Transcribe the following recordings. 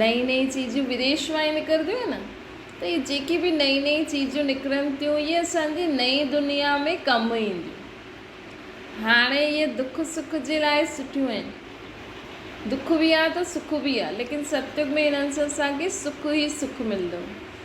نئين نئين چيزون بديش مان ئي نڪرنديون آهن ته اهي جيڪي به نئين نئين چيزون نڪرن ٿيون اهي اسان جي نئين دنيا ۾ ڪم اينديون. هاڻي اهي دک سک جي لاء سٺيون آهن. دک به آهي ته سک به آهي ليڪن ستيوگ ۾ هنن سان اسان کي سک ئي سک ملندو.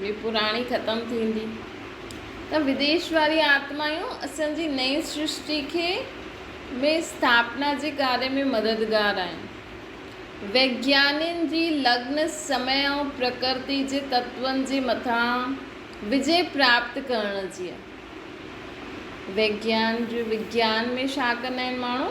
به پراڻي ختم ٿيندي ته وديش واريون آتمايون اسان جي نئين سرشتي کي ۾ اسٿاپنا جي ڪاري ۾ مددگار آهن. ويگيانين جي لگن سمئي ۽ پرڪرتي جي تتون جي مٿان وجي پراپت ڪرڻ جي آهي. ويگيان جو وگيان ۾ ڇا ڪندا آهن ماڻهو؟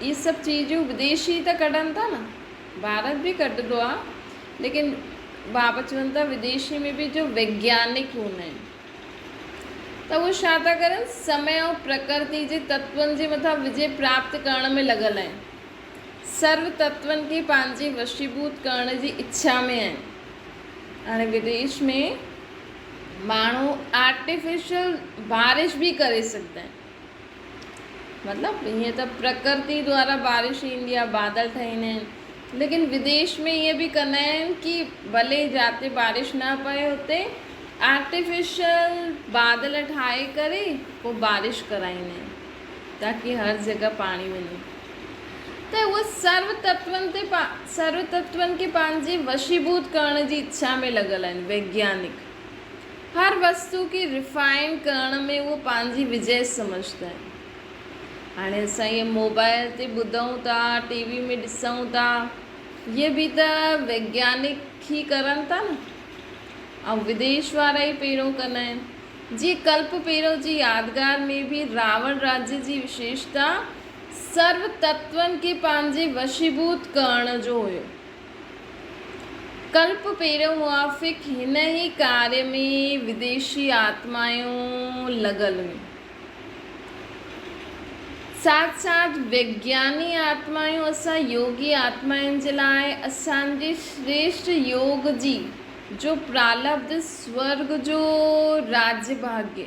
اهي سڀ چيزون بديشي ته ڪڍن ٿا نه ڀارت به ڪڍندو آهي ليڪن بابا چون ٿا بديشي ۾ به جو ويگيانڪ هوندا آهن ته اهي ڇا ٿا ڪرن سمي ۽ پرڪرتي جي تتون جي مٿان وجي پراپت ڪرڻ ۾ لڳل آهن سرو تتون کي پنهنجي وشيڀوت ڪرڻ جي اڇا ۾ آهن هاڻي بديش ۾ ماڻهو آرٽيفيشل بارش به ڪري سگهندا آهن مطلب هيئن ته پرڪرتي دوارا بارش ايندي آهي، بادل ٺهيندا آهن، ليڪن بديش ۾ ايئن به ڪندا آهن ڪي ڀلي جاتي بارش نه پئي اتي آرٽيفيشل بادل ٺاهي ڪري پوء بارش ڪرائيندا آهن تاڪي هر جڳهه پاڻي وڃي ته هو سرو تتون تي سرو تتون کي پنهنجي وشيڀوت ڪرڻ جي اڇا ۾ لڳل آهن ويگيانڪ. هر وستو کي ريفائن ڪرڻ ۾ هو پنهنجي وجهه سمجهندا آهن. هاڻي اسان اهي موبائل تي ٻڌون ٿا، ٽي وي ۾ ڏسون ٿا، اهي به ته ويگيانڪ ئي ڪرن ٿا نه؟ ۽ وديش وارا ئي پيرو ڪندا آهن. جيئن ڪلپ ڀيرو جي يادگار ۾ به راوڻ راجي جي وشيشتا سرو تتون کي پنهنجي وشيڀوت ڪرڻ جو هيو. ڪلپ پيرو موافق هن ئي ڪاري ۾ وديشي آتمائون لڳل هيون. ساٿ ساٿ وگياني آتمائون اسان يوگي آتمائن جي لاء اسان جي شريشٽ يوگ جي جو پرالبڌ سورگ جو راجڀاڳي،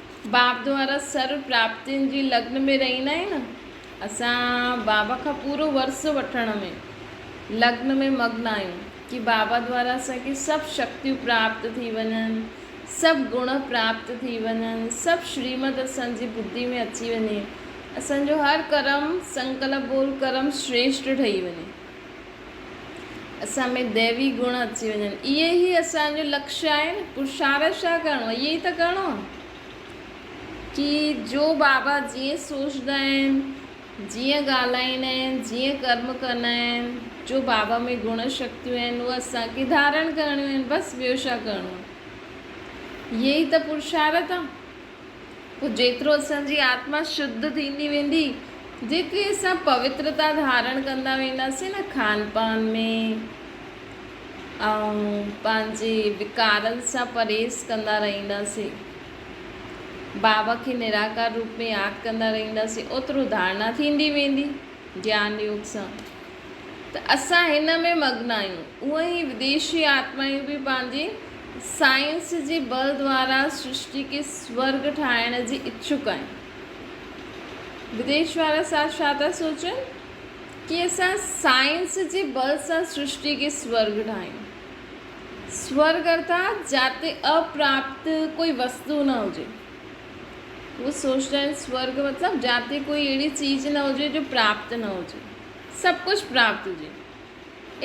باب دوارا سرو پراپتين جي لگن ۾ رهيندا آهيون نه اسان بابا کان پورو ورثو وٺڻ ۾ لگن ۾ مگن آهيون ڪي بابا دوارا اسان کي سڀ شڪتيون پراپت ٿي وڃن سڀ گڻ پراپت ٿي وڃن سڀ شريمت اسان جي ٻڌي ۾ اچي وڃي اسان جو هر ڪرم سنڪلپ بول ڪرم شريشٽ ٺهي وڃي. اسان ۾ ديوي گڻ اچي وڃن اهي ئي اسان جو لڪشي آهي نه پرشارت ڇا ڪرڻو اهي ئي ته ڪرڻو ڪي جو بابا جيئن سوچدا آهن جيئن ڳالهائيندا آهن جيئن ڪرم ڪندا آهن جو بابا ۾ گڻ شڪتيون آهن اهي اسان کي ڌارڻ ڪرڻيون آهن بس ٻيو ڇا ڪرڻو اهي ئي ته پرشارت آهي پوء جيترو اسان جي آتما شڌ ٿيندي ويندي، جيتري اسان پوترتا ڌارڻ ڪندا وينداسين نه کان پان ۾ ۽ پنهنجي وڪارن سان پرهيز ڪندا رهنداسين، بابا کي نراڪار روپ ۾ ياد ڪندا رهنداسين، اوترو ڌارڻا ٿيندي ويندي. گيان يوگ سان ته اسان هن ۾ مگن آهيون، اونئن ئي وديشي آتمايون به پنهنجي سائنس جي بل دوارا سرشٽي کي سورڳ ٺاهڻ جي اڇوڪ آهن. وديش وارا ساڌ ڇا ٿا سوچن ڪي اسان سائنس جي بل سان سرشٽي کي سورڳ ٺاهيون. سورڳ ارٿات جاتي اپراپت ڪوئي وستو نه هجي. هو سوچندا آهن سورڳ مطلب جاتي ڪوئي اهڙي چيز نه هجي جو پراپت نه هجي، سڀ ڪجهه پراپت هجي.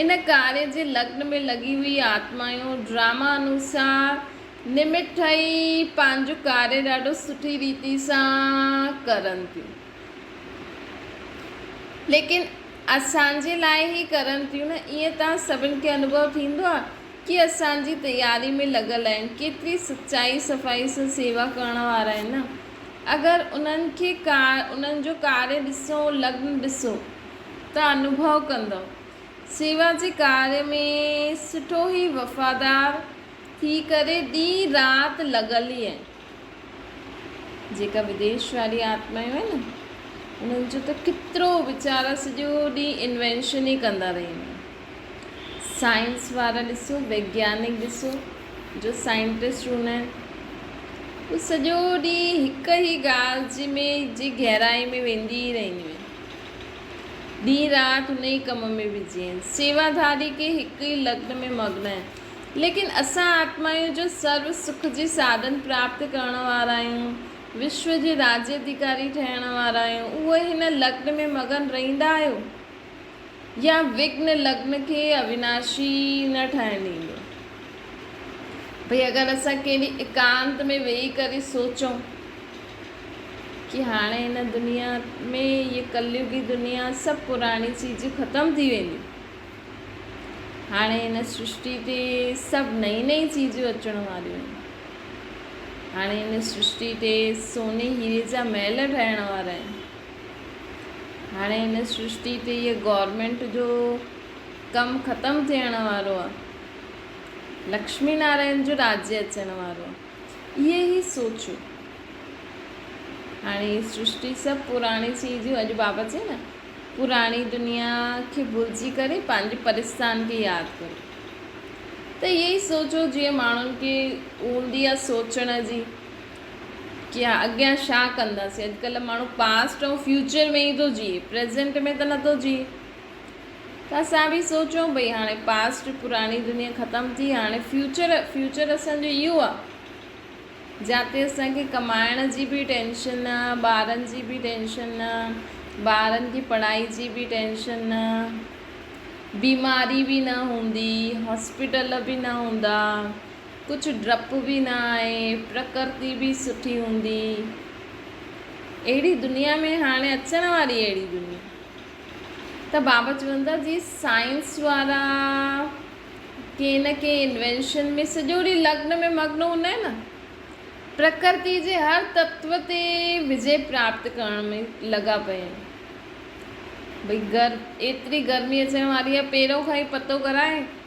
ان ڪاري جي لگن ۾ لڳي هئي آتمايون ڊراما انوسار نمت ٺهي پنهنجو ڪاري ڏاڍو سٺي ريتي سان ڪرن ٿيون. ليڪن اسان جي لاء هي ڪرن ٿيون نه ائين ته سڀن کي انوڀو ٿيندو آهي ڪي اسان جي تياري ۾ لڳل آهن، ڪيتري سچائي صفائي سان سيوا ڪرڻ وارا آهن نه! اگر انهن کي انهن جو ڪاري ڏسو، لگن ڏسو ته انوڀو ڪندؤ. سيوا جي ڪاري ۾ سٺو هي وفادار ٿي ڪري ڏينهن رات لڳل ئي آهن. جيڪا وديش واري آتمايون آهن نه انهن جو ته ڪيترو ويچارا سڄو ڏينهن انوينشن ئي ڪندا رهنديون آهن. سائنس وارا ڏسو ويگيانڪ ڏسو جو سائنٽسٽ هوندا آهن هو سڄو ڏينهن هڪ ئي ڳالهه جي ۾ جي گهرائي ۾ ويندي ئي رهنديون آهن ڏينهن رات هن ئي ڪم ۾ بزي آهن سيوا ڌاري ڪي هڪ ئي لگن ۾ مگن آهن ليڪن اسان آتمايون جو سرو سک جي ساڌن پراپت ڪرڻ وارا آهيون وشو جي راجي اڌيڪاري ٺهڻ وارا آهيون اهي هن لگن ۾ مگن رهندا آهيو يا وگھن لگن کي اويناشي نه ٺاهڻ ڏيندو. ڀئي اگر اسان ڪنهن ڏينهن ايڪانت ۾ ويهي ڪري سوچون ڪي هاڻي هن دنيا ۾ هيء ڪليوگي دنيا سڀ پراڻي چيزون ختم ٿي وينديون. هاڻي هن سرشٽي تي سڀ نئين نئين چيزون اچڻ واريون آهن. هاڻي هن سرشٽي تي سوني هيري جا محل ٺهڻ وارا آهن. هاڻي هن سرشتي تي هيء گورنمينٽ جو ڪم ختم ٿيڻ وارو آهي. لڪشمي نارائڻ جو راڄ اچڻ وارو آهي. اهي هي سوچيو. هاڻي هي سرشتي سڀ پراڻي سي جي اڄ بابا چئي نه پراڻي دنيا کي ڀلجي ڪري پنهنجي پرستان کي ياد ڪرو. ته اهي هي سوچيو جيئن ماڻهن کي هوندي آهي سوچڻ جي ڪي آ اڳيان ڇا ڪنداسين اڄڪلهه ماڻهو پاسٽ ۽ فيوچر ۾ ئي ٿو جيئي پريزنٽ ۾ ته نٿو جيئي ته اسان به سوچون ڀئي هاڻي پاسٽ پراڻي دنيا ختم ٿي هاڻي فيوچر فيوچر اسانجو اهو آ جاتي اسانکي ڪمائڻ جي به ٽينشن نه ٻارن جي به ٽينشن نه ٻارن کي پڙهائي جي به ٽينشن نه بيماري به نه هوندي هاسپيٽل به نه هوندا ڪجهه ڊپ به نه آهي پرڪرتي به سٺي هوندي اهڙي دنيا ۾ هاڻي اچڻ واري اهڙي دنيا ته بابا چون ٿا جي سائنس وارا ڪي نه ڪي انوينشن ۾ سڄو ڏينهن لگن ۾ مگن هوندا آهن نه پرڪرتي جي هر تتو تي وجي پراپت ڪرڻ ۾ لڳا پيا آهن ڀئي گر ايتري گرمي اچڻ واري آهي پهريون کان ئي پتو ڪرائي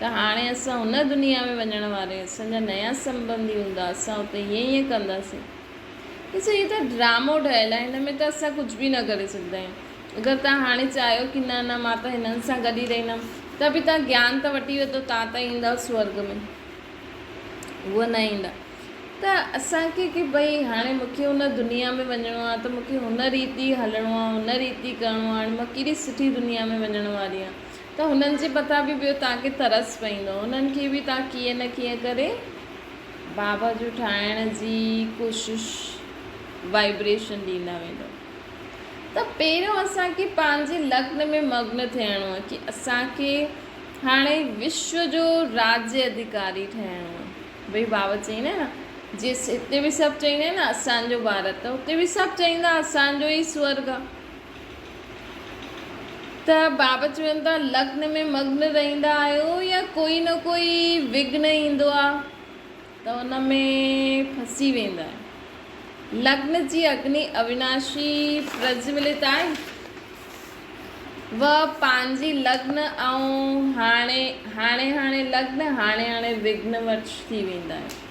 ته هاڻي اسان هن دنيا ۾ وڃڻ واري اسان جا نيا سنبنڌي هوندا اسان اتي ائين ائين ڪنداسين. ڏسو هي ته ڊرامو ٺهيل آهي هن ۾ ته اسان ڪجهه به نه ڪري سگهندا آهيون. اگر توهان هاڻي چاهيو ڪي نه نه مان ته هنن سان گڏ ئي رهندم ته به توهان گيان ته وٺي ويندو توهان ته ايندا سورڳ ۾ هو نه ايندا ته اسان کي ڪي ڀئي هاڻي مون کي هن دنيا ۾ وڃڻو آهي ته مون کي هن ريت ئي هلڻو آهي هن ريت ئي ڪرڻو آهي هاڻي مان ڪيڏي سٺي دنيا ۾ وڃڻ واري آهيان ته هنن جي مٿان به ٻيو توهان کي ترس پئيندو. هنن کي به توهان ڪيئن نه ڪيئن ڪري بابا جون ٺاهڻ جي ڪوشش، Vibration، ڏيندا ويندو. ته پهريون اسان کي پنهنجي لگن ۾ مگن ٿيڻو آهي ڪي اسان کي هاڻي وشو جو راجي اڌيڪاري ٺهڻو آهي. ڀئي بابا چئيندا آهن نه جيئن هتي به سڀ چئيندا آهن نه اسان جو ڀارت اتي به سڀ چئيندا اسان جو ئي سورگ آهي. ته بابا چون ٿا لگن ۾ مگن رهندا آهيو يا ڪوئي نه ڪوئي وگهن ايندو آهي ته ان ۾ ڦسي ويندا آهيو. لگن جي اگني اويناشي پرجولت آهي. وه پنهنجي لگن ۽ هاڻي هاڻي لگن هاڻي هاڻي وگهن وش ٿي ويندا آهيو.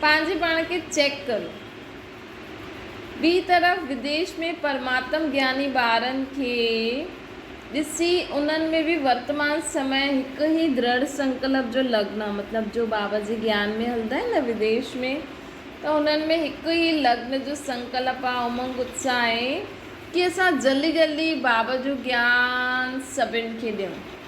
پنهنجي پاڻ کي چيڪ ڪرو. ٻي طرف وديش ۾ پرماتم گياني ٻارن کي ڏسي انهن ۾ به ورتمان سمئي هڪ ئي درڙ سنڪلپ جو لگن آهي مطلب جو بابا جي گيان ۾ هلندا آهن نه وديش ۾ ته انهن ۾ هڪ ئي لگن جو سنڪلپ آهي امنگ اتساهه آهي ڪي اسان جلدي جلدي بابا جو گيان سڀن کي ڏيون.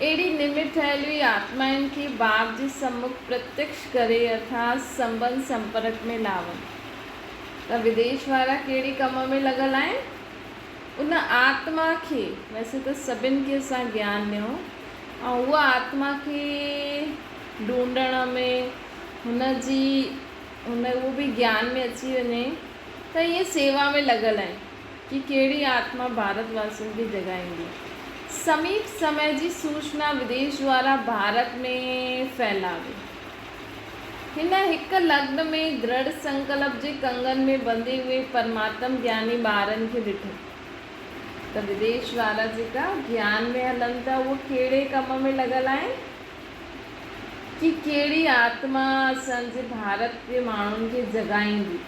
اهڙي نمت ٺهيل هي آتمائن کي باپ جي سمک پرتيڪش ڪري اٿاس سنبن سمپرڪ ۾ لاون ته وديش وارا ڪهڙي ڪم ۾ لڳل آهن؟ ان آتما کي ويسي ته سڀن کي اسان گيان ڏنو ۽ هوء آتما کي ڍونڍڻ ۾ هن جي هن اهو به گيان ۾ اچي وڃي ته ائين سيوا ۾ لڳل آهن. جي ڪهڙي آتما ڀارت واسين کي جڳائيندي؟ سميپ سمي جي سوچنا وديش دوارا ڀارت ۾ ڦهلائي. هن هڪ لگن ۾ درڙ سنڪلپ جي ڪنگن ۾ ٻنڌي اهي پرماتم گياني ٻارن کي ڏٺا ته وديش وارا جيڪا گيان ۾ هلن ٿا اهي ڪهڙي ڪم ۾ لڳل آهن جي ڪهڙي آتما اسان جي ڀارت جي ماڻهن کي جڳائيندي؟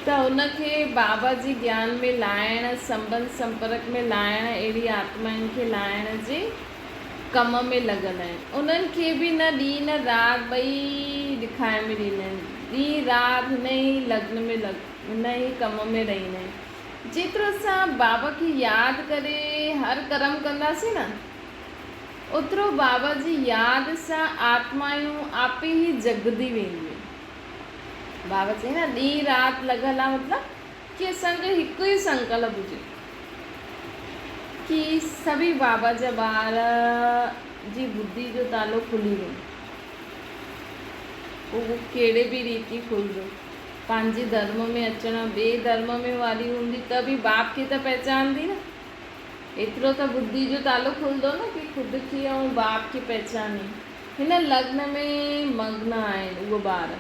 ته هن کي بابا جي گيان ۾ لاهڻ، سنبنڌ سمپرڪ ۾ لاهڻ، اهڙي آتمائن کي لاهڻ جي ڪم ۾ لڳل آهن. انهن کي به نه ڏينهن نه رات ٻئي ڏکائي ۾ ڏيندا آهن. ڏينهن رات هن ئي لگن ۾ لڳ، هن ئي ڪم ۾ رهيندا آهن. جيترو اسان بابا کي ياد ڪري هر ڪرم ڪنداسين نه. اوترو بابا جي ياد سان آتمايون آپي ئي جڳندي وينديون. بابا چيائين نه ڏينهن رات لڳل آ مطلب ڪي اسان جو هڪ ئي سنڪلپ هجي ڪي سڀئي بابا جا ٻار جي ٻڌي جو تالو کلي وڃي پوء اهو ڪهڙي به ريتي کلندو پنهنجي ڌرم ۾ اچڻ ٻئي ڌرم ۾ واري هوندي ته به باب کي ته پهچاندي نه. ايترو ته ٻڌي جو تالو کلندو نه ڪي خود کي ۽ باپ کي پهچاني هن لگن ۾ مگن آهن اهي ٻار.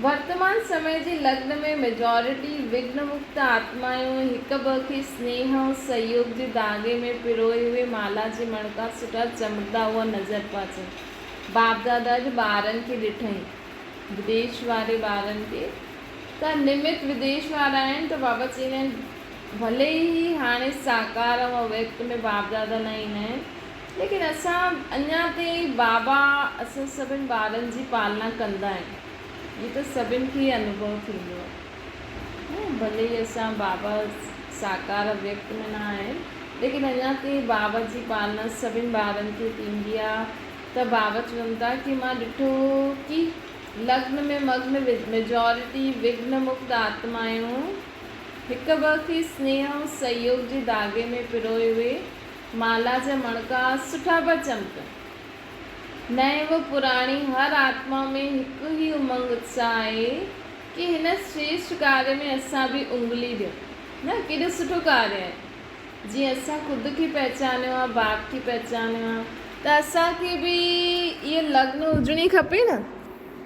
ورتمان سمي جي لگن ۾ ميجارٽي وگن مڪت آتمايون هڪ ٻئي کي سنيهه ۽ سهيوگ جي ڌاڳي ۾ پروئي اهي مالها جي مڻڪا سوٽا چمڙدا هئا نظر پيا اچن. باپ دادا جي ٻارن کي ڏٺئين بديش واري ٻارن کي ته نمت بديش وارا آهن ته بابا چئيندا آهن. ڀلي ئي هي هاڻي ساڪار ۽ اويڪٽ ۾ بابدادا نه ايندا آهن ليڪن اسان اڃا تائين بابا اسان سڀني ٻارن جي پالنا ڪندا آهن هي ته سڀني کي ئي انوڀو ٿيندو آهي ڀلي ئي اسان بابا ساڪار اويڪٽ ۾ نه آهن ليڪن اڃا تائين بابا جي پالنا سڀني ٻارن کي ٿيندي آهي ته بابا چون ٿا ڪي مان ڏٺو ڪي لگن ۾ مگن ميجارٽي وگن مڪت آتمائون هڪ ٻئي کي سنيهه ۽ سهيوگ جي ڌاڳي ۾ پروئي اهي مالها جا مڻڪا سٺا پيا چمڪن. نئين و پراڻي هر آتما ۾ هڪ ئي امنگ اتساهه آهي ڪي هن شريشٺ ڪاري ۾ اسان به اڱلي ڏيون نه ڪيڏو سٺو ڪاري آهي. جيئن اسان خود کي پهچانيو آهي باپ کي پهچانيو آهي. ته اسان کي به اها لگن هجڻي کپي نه.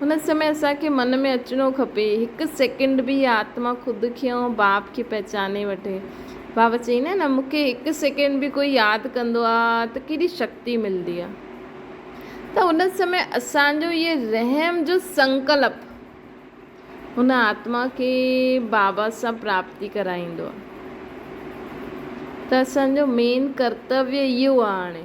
هن سمي اسان کي من ۾ اچڻو کپي، هڪ سيڪنڊ به اها آتما خود کي ۽ باب کي پهچاني وٺي. بابا چئي نه نه مون کي هڪ سيڪنڊ به ڪوئي ياد ڪندو آ ته ڪيڏي شڪتي ملدي آ. ته ان سمي اسان جو اهي رحم جو سنڪلپ هن آتما کي بابا سان پراپتي ڪرائيندو آ. ته اسان جو مين ڪرتويه اهو آ هاڻي.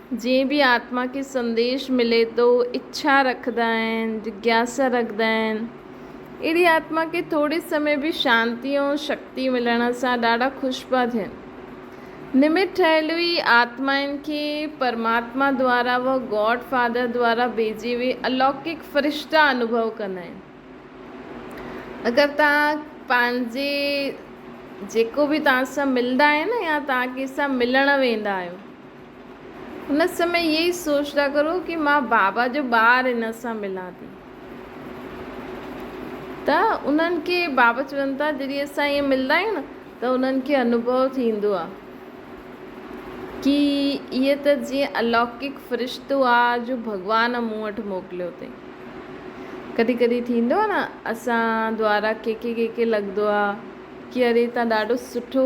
جئين به آتما کي سنديش ملي ٿو، اڇا رکندا آهن، جگياسا رکندا آهن، اهڙي آتما کي ٿوري سمي به شانتي ۽ شڪتي ملڻ سان ڏاڍا خوش پيا ٿين. نمت ٺهيل ئي آتمائن کي پرماتما دوارا و گاڊ فادر دوارا ڀيجي وئي الوڪڪ فرشتا انوڀو ڪندا آهن. اگر توهان پنهنجي جيڪو به توهان سان ملدا آهن يا توهان ڪنهن سان ملڻ ويندا آهيو. ان سمي اهي ئي سوچندا ڪرو ڪي مان بابا جو ٻار انهن سان ملان ٿي ته انهن کي بابا چون ٿا جڏهن اسان ائين ملندا آهيون نه ته انهن کي انوڀو ٿيندو آهي ڪي اهي ته جيئن الوڪڪ فرشتو آهي جو ڀڳوان مون وٽ موڪليو اٿئي ڪڏهن ڪڏهن ٿيندو آهي نه اسان دوارا ڪي ڪي ڪي ڪي لڳندو آهي ڪي اري تان ڏاڍو سٺو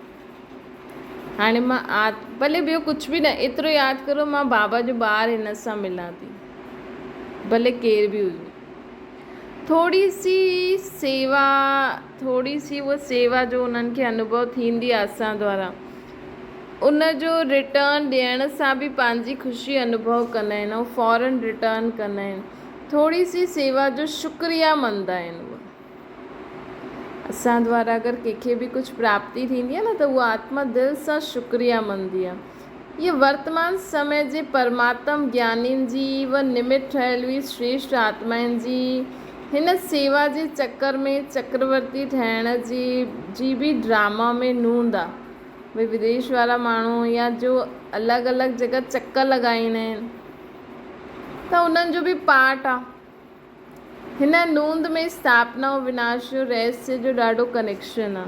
هاڻي مان آت ڀلي ٻيو ڪجهه به نه ايترو ياد ڪريو مان بابا جو ٻار هن سان ملان ٿي ڀلي ڪير به هجي ٿوري سي سيوا ٿوري سي هو سيوا جو انهن کي انوڀو ٿيندي آهي اسان دوارا ان جو رٽرن ڏيڻ سان به پنهنجي خوشي انوڀو ڪندا آهن ۽ فورن رٽرن ڪندا آهن ٿوري سي سيوا جو شڪريا مند آهن اسان دوارا اگر ڪنهن کي به ڪجهه پراپتي ٿيندي آهي نه ته اها آتما دل سان شڪريا مندي آهي. هيء ورتمان سمي جي پرماتم گيانين جي و نمت ٺهيل هئي شريشٽ آتمائن جي هن سيوا جي چڪر ۾ چڪرورتي ٺهڻ جي جي به ڊراما ۾ نوند آهي. ڀئي وديش وارا ماڻهو يا جو الڳ الڳ جڳهه چڪر لڳائيندا آهن ته انهن جو به پارٽ آهي. هن نوند ۾ اسٿاپنا ۽ وناش جو رهسيه جو ڏاڍو ڪنيڪشن آ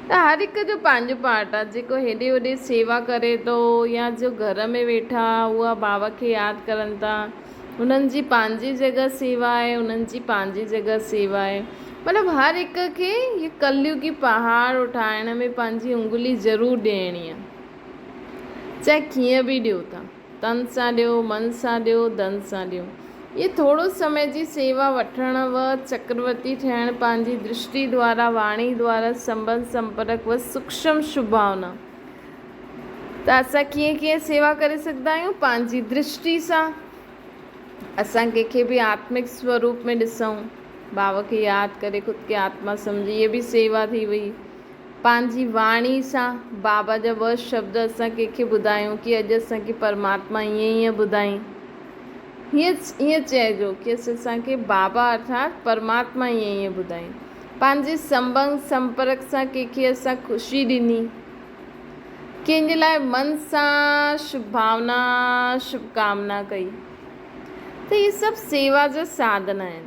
ته هر هڪ جو پنهنجو پارٽ آ جيڪو هيڏي هوڏي سيوا ڪري ٿو يا جو گهر ۾ ويٺا اها باوهه کي ياد ڪرن ٿا انهن جي پنهنجي جڳهه سيوا آهي انهن جي پنهنجي جڳهه سيوا آهي مطلب هر هڪ کي هي ڪليوگي پهاڙ اٺائڻ ۾ پنهنجي انگلي ضرور ڏيڻي آ چاهي ڪيئن به ڏيو ٿا. تن سان ڏيو، من سان ڏيو، ڌن سان ڏيو. اهي ٿورو سمي جي سيوا وٺڻ و چڪرورتي ٺهڻ پنهنجي درشٽي دوارا، واڻي دوارا، سنبنڌ سمپرڪ و سوڪشم شڀاونا. ته اسان ڪيئن ڪيئن سيوا ڪري سگهندا آهيون؟ پنهنجي درشٽي سان. اسان ڪنهن کي به آتمڪ سوروپ ۾ ڏسون. ڀاو کي ياد ڪري خود کي آتما سمجهي. اهي به سيوا ٿي وئي. پنهنجي واڻي سان بابا جا ٻه شبد اسان ڪنهن کي ٻڌايون ڪي اڄ اسان کي پرماتما ائين ئي ائين ٻڌائين. هيء ائين چئجو ڪي اڄ اسان کي بابا ارٿات پرماتما ائين ئي ائين ٻڌائين. پنهنجي سنبنگ سنپرڪ سان ڪنهن کي اسان خوشي ڏني. ڪنهن جي لاء من سان شڀ ڀاونا شڀ ڪامنا ڪئي ته هي سڀ سيوا جا ساڌن آهن.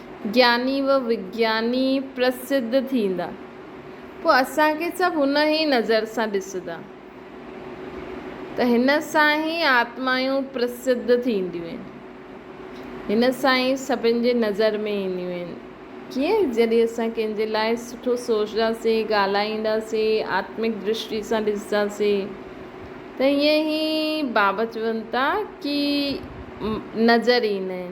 گياني و وگياني پرسڌ ٿيندا. پوء اسان کي سڀ ان ئي نظر سان ڏسندا ته هن سان ئي آتمائون پرسڌ ٿينديون آهن. هن سان ئي سڀن جي نظر ۾ اينديون آهن. ڪيئن؟ جڏهن اسان ڪنهن جي لاء سٺو سوچداسين، ڳالهائينداسين، آتمڪ درشٽي سان ڏسنداسين ته ائين ئي بابت چون ٿا ڪي نظر ايندا آهن.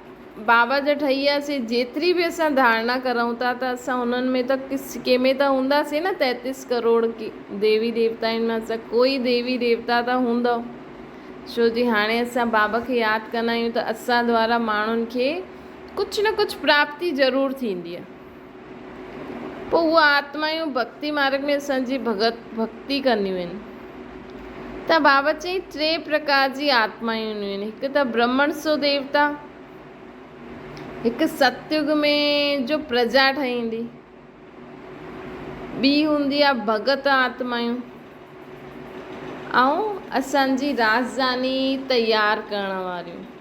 بابا جا ٺهي ويا سي جيتري به اسان ڌارنا ڪرون ٿا ته اسان انهن ۾ ته ڪس ڪنهن ۾ ته هوندا سي نه تيتيس ڪروڙ ديوي ديوتائن مان اسان ڪوئي ديوي ديوتا ته هوندو ڇو جي هاڻي اسان بابا کي ياد ڪندا آهيون ته اسان دوارا ماڻهن کي ڪجھ نه ڪجھ پراپتي ضرور ٿيندي آهي. پوء اهي آتمائون ڀڳتي مارڳ ۾ اسان جي ڀڳت ڀڳتي ڪنديون آهن. ته بابت چيائين، ٽي پرڪار جي آتمائون اينديون آهن، هڪ ته برهمڻ سو ديوتا، هڪ ستيگ ۾ جو پرجا ٺهي ايندي، ٻي هوندي آهي ڀڳت آتمائون ۽ اسان جي راجڌاني تيار ڪرڻ واريون.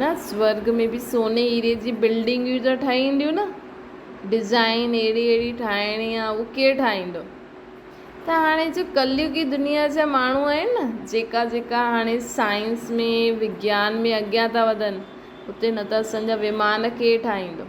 نه سورڳ ۾ به سوني هيري جي بلڊنگيون ته ٺهينديون نه ڊزائين اهڙي اهڙي ٺاهڻي آ اهو ڪير ٺاهيندو ته هاڻي جو ڪليوگي دنيا جا ماڻهو آهن نه جيڪا جيڪا هاڻي سائنس ۾ وگيان ۾ اڳيان ٿا وڌن اتي نه ته اسان جا ومان ڪير ٺاهيندو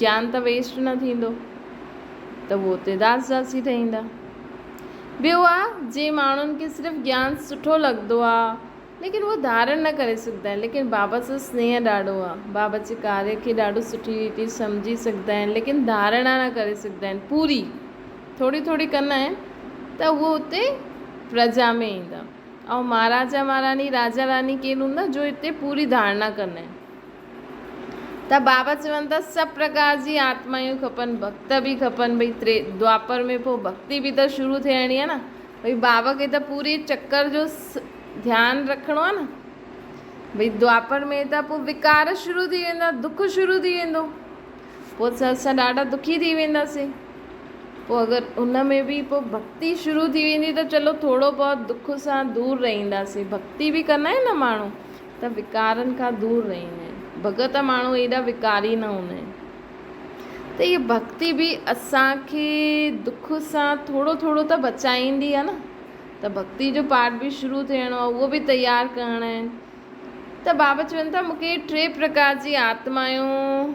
گيان ته ويسٽ نه ٿيندو ته هو اتي داس داسي ٺهيندا. ٻيو آ جي ماڻهن کي صرف گيان سٺو لڳندو آ ليڪن هو ڌارڻ نه ڪري سگهندا آهن ليڪن بابا سان سنيهه ڏاڍو آ بابا جي ڪاري کي ڏاڍو سٺي ريتي سمجهي سگهندا آهن ليڪن ڌارڻا نه ڪري سگهندا آهن پوري ٿوري ٿوري ڪندا آهن ته هو اتي پرجا ۾ ايندا ۽ مهاراجا مهاراني راجا راني ڪير هوندا جو اتي پوري ڌارڻا ڪندا آهن. ته بابا چون ٿا سڀ پرڪار جي آتمايون کپن ڀڳت به کپن ڀئي تري دوآپر ۾ پوء ڀڳتي به ته شروع ٿيڻي آهي نه ڀئي بابا کي ته پوري چڪر جو ڌيان رکڻو آهي نه ڀئي دوآپر ۾ ته پوء وڪار شروع ٿي ويندا دک شروع ٿي ويندو پوء ته اسان ڏاڍا دکي ٿي وينداسين پوء اگر ان ۾ به پوء ڀڳتي شروع ٿي ويندي ته چلو ٿورو بهت دک سان دور رهنداسين ڀڳتي به ڪندا آهن نه ماڻهو ته وڪارن کان دور رهيندين. ڀڳت ماڻهو ايڏا وڪاري نه هوندا آهن. ته هيء ڀڳتي به اسان کي دک سان ٿورو ٿورو ته بچائيندي آهي نه. ته ڀڳتي جو پاٺ به شروع ٿيڻو آهي، اهو به تيار ڪرڻا آهن. ته بابا چون ٿا مون کي ٽي پرڪار جي آتمائون.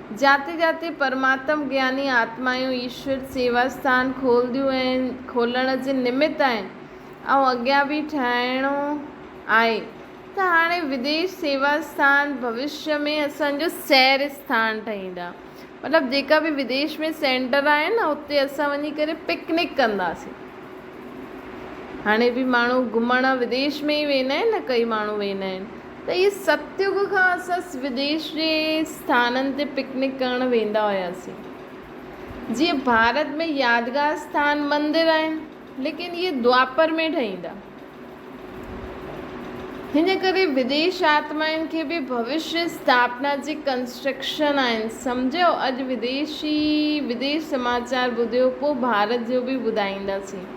جاتي جاتي پرماتم گياني آتمائون ايشور سيوا اسٿان کولنديون ۽ کولڻ جي نمت آهن ۽ اڳيان به ٺاهڻو آهي ته هاڻي وديش سيوا اسٿان ڀوشيا ۾ اسان جو سير اسٿان ٺهيندا مطلب جيڪا به وديش ۾ سينٽر آهن نه اتي اسان وڃي ڪري پڪنڪ ڪنداسين هاڻي به ماڻهو گهمڻ وديش ۾ ئي ويندا آهن نه ڪئي ماڻهو ويندا آهن ته اهي ستيوگ کان اسان سوديش جي اسٿانن تي پڪنڪ ڪرڻ ويندا هياسين. جيئن ڀارت ۾ يادگار اسٿان، مندر آهن، ليڪن اهي دوآپر ۾ ٺهيندا. هن ڪري وديش آتمائن کي به ڀوشيه اسٿاپنا جي ڪنسٽرڪشن آهن. سمجهيو؟ اڄ وديشي وديش سماچار ٻڌيو، پوء ڀارت جو به ٻڌائينداسين.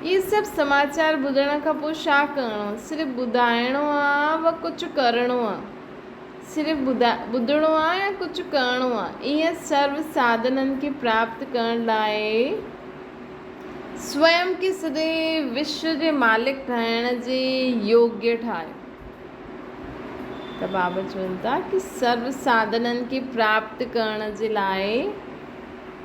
اهي سڀ سماچار ٻڌڻ کان پوء ڇا ڪرڻو؟ صرف ٻڌائڻو آ و ڪجهه ڪرڻو آ؟ صرف ٻڌڻو آ يا ڪجهه ڪرڻو آ؟ انهن سرو ساڌنن کي پراپت ڪرڻ لاء سوئم کي سڄي وشو جي مالڪ ٺاهڻ جي يوگي ٺاهيو. ته بابا چون ٿا ته سرو ساڌنن کي پراپت ڪرڻ جي لاء.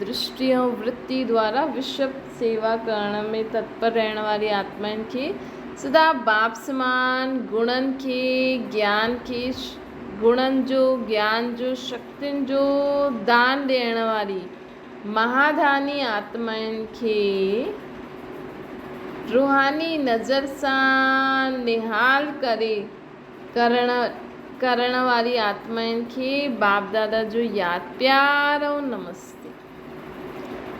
درشٽي ۽ ورتي دوارا وشو سيوا ڪرڻ ۾ تتپر رهڻ واري آتمائن کي سدا باپ سمان گڻن کي گيان کي گڻن جو گيان جو شڪتين جو دان ڏيڻ واري مهاڌاني آتمائن کي روحاني نظر سان نهال ڪري ڪرڻ واري آتمائن کي باپ دادا جو ياد پيار ۽ نمستي.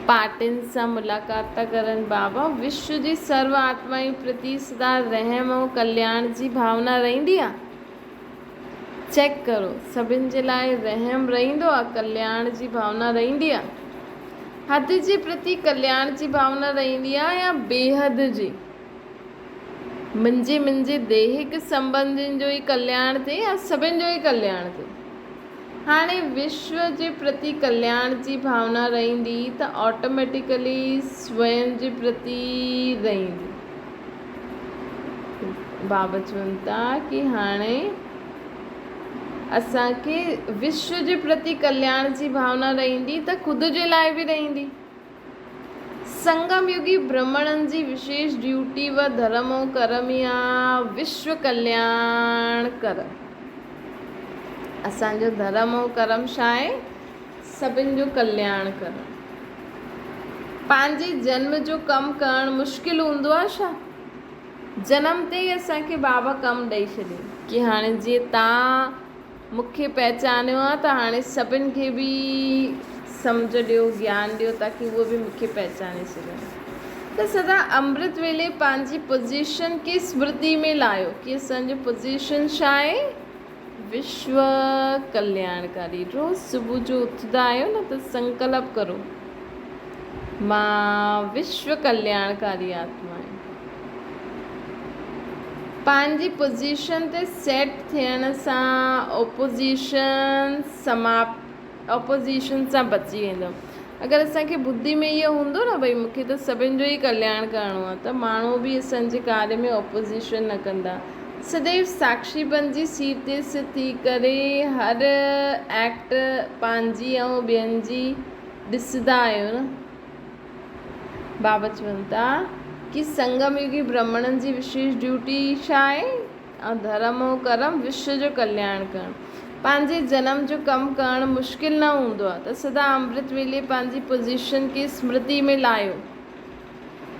پارٽين سان ملاقات ٿا ڪرن بابا وشو جي سرو آتمائن پرتي سدا رحم ۽ ڪلياڻ جي ڀاونا رهندي آ چيڪ ڪرو سڀن جي لاء رحم رهندو آ ڪلياڻ جي ڀاونا رهندي آ حد جي پرتي ڪلياڻ جي ڀاونا رهندي آ يا بيحد جي. منھنجي منھنجي ديهڪ سنبنڌين جو ئي ڪلياڻ ٿئي يا سڀن جو ئي ڪلياڻ ٿئي. هاڻي وشو جي پرتي ڪلياڻ جي ڀاونا رهندي ته آٽوميٽيڪلي سوين جي پرتي رهندي. بابا چون ٿا ڪي هاڻي اسان کي وشو جي پرتي ڪلياڻ جي ڀاونا رهندي ته خود جي لاء به رهندي. سنگم يوگي برهمڻن جي وشيش ڊيوٽي و ڌرم ۽ ڪرم ئي آ وشو ڪلياڻ ڪر. اسان جو ڌرم ۽ ڪرم ڇا آهي؟ سڀن جو ڪلياڻ ڪرڻ. پنهنجي جنم جو ڪم ڪرڻ مشڪل هوندو آ ڇا؟ جنم تي ئي اسان کي بابا ڪم ڏئي ڇڏين ڪي هاڻي جي تان مون کي پهچانيو آهي ته هاڻي سڀن کي به سمجهه ڏيو، گيان ڏيو تاڪي هو به مون کي پهچاني سگهن. ته سدا امرت ويلي پنهنجي پوزيشن کي اسمرتي ۾ لايو ڪي اسان جو پوزيشن ڇا آهي؟ وشو ڪلياڻڪاري. روز صبح جو اٿندا آهيو نه ته سنڪلپ ڪرو مان وشو ڪلياڻڪاري آتما آهيان. پنهنجي پوزيشن تي سيٽ ٿيڻ سان اپوزيشن سماپت اپوزيشن سان بچي ويندو. اگر اسان کي ٻڌي ۾ اهو هوندو نه ڀئي مون کي ته سڀن جو ئي ڪلياڻ ڪرڻو آهي ته ماڻهو به اسان جي ڪاري ۾ اپوزيشن نه ڪندا. سديو ساڪشي بنجي سيٽ تي سٿ ٿي ڪري هر ايڪٽ پنهنجي ۽ ٻين جي ڏسندا آهيون نه. بابت چون ٿا ڪي سنگم يوگي برهمڻن جي وشيش ڊيوٽي ڇا آهي؟ ۽ ڌرم ۽ ڪرم وشو جو ڪلياڻ ڪرڻ. پنهنجي جنم جو ڪم ڪرڻ مشڪل نه هوندو آهي ته سدا امرت ويلي پنهنجي پوزيشن کي اسمرتي ۾ لاهيو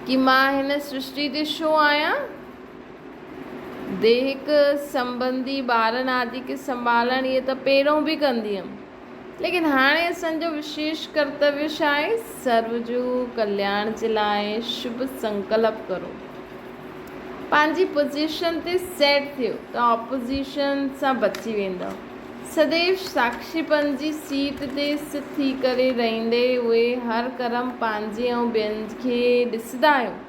ڪي مان هن سرشتي تي شو آهيان؟ ديهڪ سنبنڌي، ٻارن آدي کي سنڀالڻ اهي ته پهريون به ڪندي هيم. ليڪن هاڻي اسان جو وشيش ڪرتويه ڇا آهي؟ سرو جو ڪلياڻ جي لاء شڀ سنڪلپ ڪرو. پنهنجي پوزيشن تي سيٽ ٿيو ته آپوزيشن سان بچي ويندؤ. سديو ساکشي پنهنجي سيٽ تي سٿ ٿي ڪري رهندي اهي هر ڪرم پنهنجي ۽ ٻين کي ڏسندا آهيون.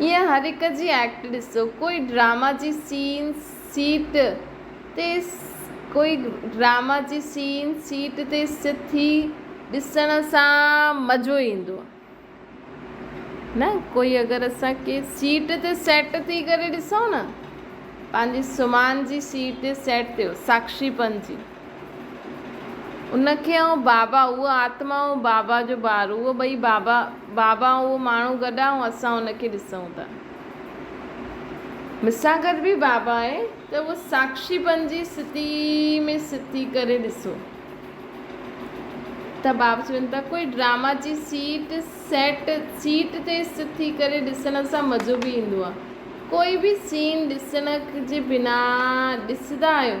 ايئن هر هڪ جي ايڪٽ ڏسو. ڪوئي ڊراما جي سين سيٽ تي ڪوئي ڊراما جي سين سيٽ تي سٿي ڏسڻ سان مزو ايندو نه ڪوئي اگر اسان ڪي سيٽ تي سيٽ ٿي ڪري ڏسون نه پنهنجي سمهان جي سيٽ تي سيٽ ٿيو ساڪشي پنهنجي ان کي آئون بابا، اهو آتما ۽ بابا جو ٻار، اهو ٻئي بابا، بابا ۽ اهو ماڻهو گڏ آهي ۽ اسان ان کي ڏسون ٿا. مون سان گڏ به بابا آهي ته اهو ساڪشيپن جي ستي ۾ ست ٿي ڪري ڏسو ته بابا چون ٿا ڪوئي ڊراما جي سيٽ، Set، سيٽ تي ست ٿي ڪري ڏسڻ سان مزو به ايندو آهي. ڪوئي به سين ڏسڻ جي بنا ڏسندا آهيو؟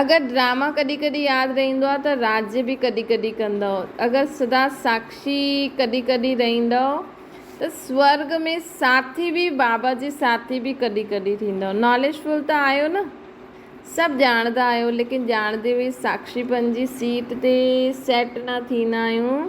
اگر ڊراما ڪڏھن ڪڏھن ياد رھيندو آ ته راڄ به ڪڏھن ڪڏھن ڪندؤ اگر سدا ساکشي ڪڏھن ڪڏھن رھيندؤ ته سورڳ ۾ ساٿي به بابا جي ساٿي به ڪڏھن ڪڏھن ٿيندؤ ناليج فل ته آھيو نه سڀ ڄاڻندا آھيو ليڪن ڄاڻندي به ساکشي پن جي سيٽ تي سيٽ نه ٿيندا آھيون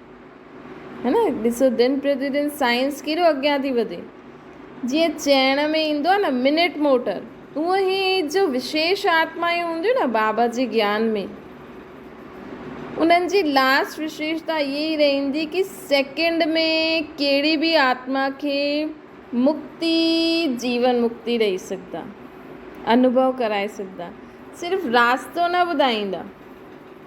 ها نه ڏسو دن پرتيدن سائنس ڪيڏو اڳيان ٿي وڌي جيئن چئڻ ۾ ايندو آهي نه منٽ موٽر اهو هي جو وشيش آتمائون هونديون نه بابا جي گيان ۾ انهن جي لاسٽ وشيشتا اها ئي رهندي ڪي سيڪنڊ ۾ ڪهڙي به آتما کي مڪتي جيون مڪتي ڏئي سگهندا انوڀو ڪرائي سگهندا صرف راستو نه ٻڌائيندا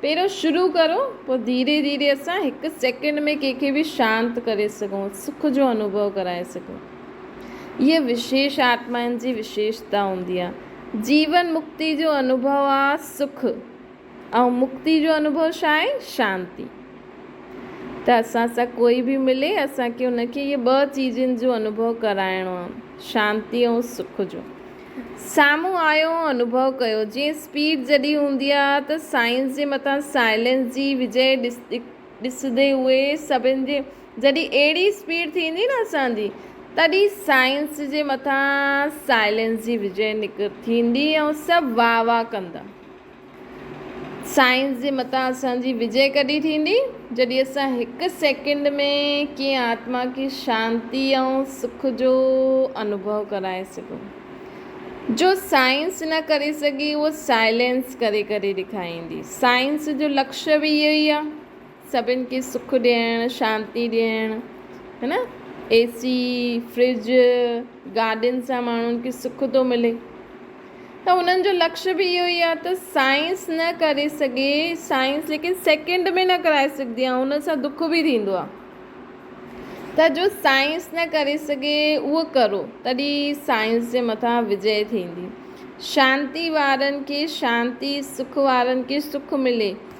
پهريون شروع ڪرو پوء ڌيري ڌيري اسان هڪ سيڪنڊ ۾ ڪنهن کي به شانت ڪري سگهون سک جو انوڀو ڪرائي سگهون اها وشيش آتمائن جي وشيشتا هوندي آهي جيون مڪتي جو انوڀو آهي سک ۽ مڪتي جو انوڀو ڇا آهي شانتي ته اسان سان ڪوئي به ملي اسان کي ان کي اهي ٻه چيزن جو انوڀو ڪرائڻو آهي شانتي ۽ سک جو سامهون آيو ۽ انوڀو ڪيو. جيئن اسپيڊ جڏهن هوندي آ ته سائنس جي مٿان سائلينس جي وجهه ڏسندي اهي سڀن جي جڏهن اهڙي اسپيڊ ٿيندي نه اسان جي تڏهن سائنس جي مٿان سائلينس جي وجهه نڪ ٿيندي ۽ سڀ واهه واهه ڪندا. سائنس جي متان اسان جي وجئي ڪڏھن ٿيندي جڏھن اسان ھڪ سيڪنڊ ۾ ڪنھن آتما کي شانتي ۽ سک جو انوڀو ڪرائي سگھون. جو سائنس نه ڪري سگھي اھو سائلينس ڪري ڪري ڏيکاريندي. سائنس جو لڪش به اھو ئي آ. سڀن کي سک ڏيڻ شانتي ڏيڻ ها نه اي سي فرج گاڏين سان ماڻهن کي سک ٿو ملي ته انهن جو لڪش به اهو ئي آهي ته سائنس نه ڪري سگهي سائنس ليڪن سيڪنڊ ۾ نه ڪرائي سگهندي آهي ان سان دک به ٿيندو آهي ته جو سائنس نه ڪري سگهي اهو ڪرو تڏي سائنس جي مٿان وجي ٿيندي شانتي وارن کي شانتي سک وارن کي سک ملي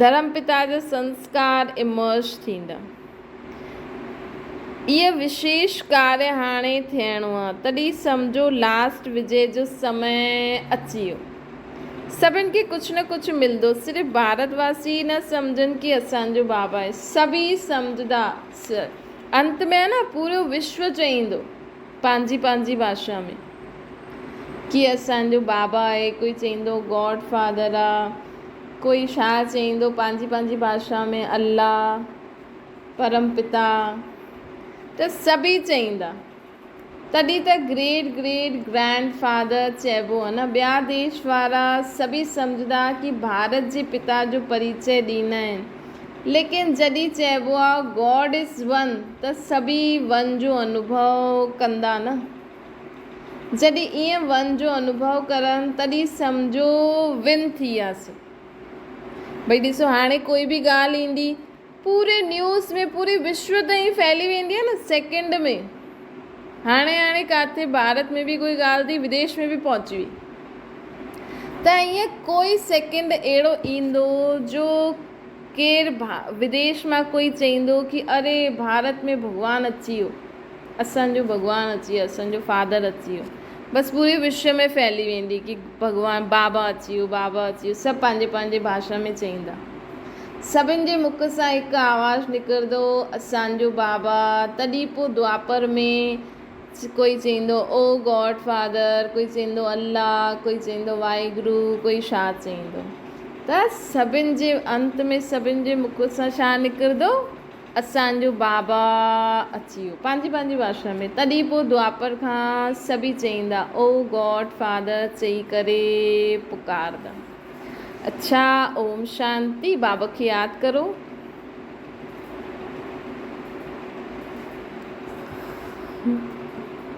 ڌرم پتا جا سنسڪار Emerge ٿيندا. اهي وشيش ڪاري هاڻي ٿيڻو آ. تڏهن سمجهو لاسٽ وجي جو سمئي اچي ويو. سڀن کي ڪجهه نه ڪجهه ملندو. صرف ڀارت واسي ئي نه سمجهن ڪي اسان جو بابا آهي. سڀئي سمجهندا. انت ۾ نه پورو وشو چئيندو پنهنجي پنهنجي ڀاشا ۾. ڪي اسان جو بابا آهي، ڪوئي چئيندو گاڊ فادر آ، ڪوئي ڇا چئيندو پنهنجي پنهنجي ڀاشا ۾ الله، پرم پتا ته سڀئي چئيندا. تڏهن ته گريٽ گريٽ گرينڊ فادر چئبو آ نه، ٻيا ديش وارا سڀئي سمجهندا ڪي ڀارت جي پتا جو پريچئه ڏيندا آهن، ليڪن جڏهن چئبو آ گاڊ از ون ته سڀئي ون جو انوڀو ڪندا نه. جڏهن ائين ون جو انوڀو ڪرن تڏهن سمجهو ون ٿي وياسين. ڀئي ڏسو هاڻي ڪوئي به ڳالهه ايندي پوري نيوز ۾ پوري وشو تائين ڦهلي ويندي نه سيڪنڊ ۾ هاڻي هاڻي ڪاٿي ڀارت ۾ به ڪوئي ڳالهه ٿي بديش ۾ به پهچي وئي ته ائين ڪوئي سيڪنڊ اهڙو ايندو جو ڪير بديش مان ڪوئي چئيندو ڪي اري ڀارت ۾ ڀڳوان اچي ويو. اسان جو ڀڳوان اچي ويو اسان جو فادر اچي ويو بس پوري وشو ۾ ڦهلي ويندي ڪي ڀڳوان بابا اچي ويو بابا اچي ويو سڀ پنهنجي پنهنجي ڀاشا ۾ چئيندا سڀن جي مک سان هڪ آواز نڪرندو هو اسان جو بابا تڏهن پوء دوآپر ۾ ڪوئي چئيندو او گاڊ فادر ڪوئي چئيندو الله ڪوئي چئيندو واحگرو ڪوئي ڇا چئيندو ته سڀن جي انت ۾ سڀن جي مک سان ڇا نڪرندو اسان جو بابا اچي ويو. پنهنجي پنهنجي ڀاشا ۾. تڏهن پوء دوآپر کان سڀئي چئيندا، او گاڊ فادر چئي ڪري پڪارندا. اڇا اوم شانتي، بابا کي ياد ڪرو.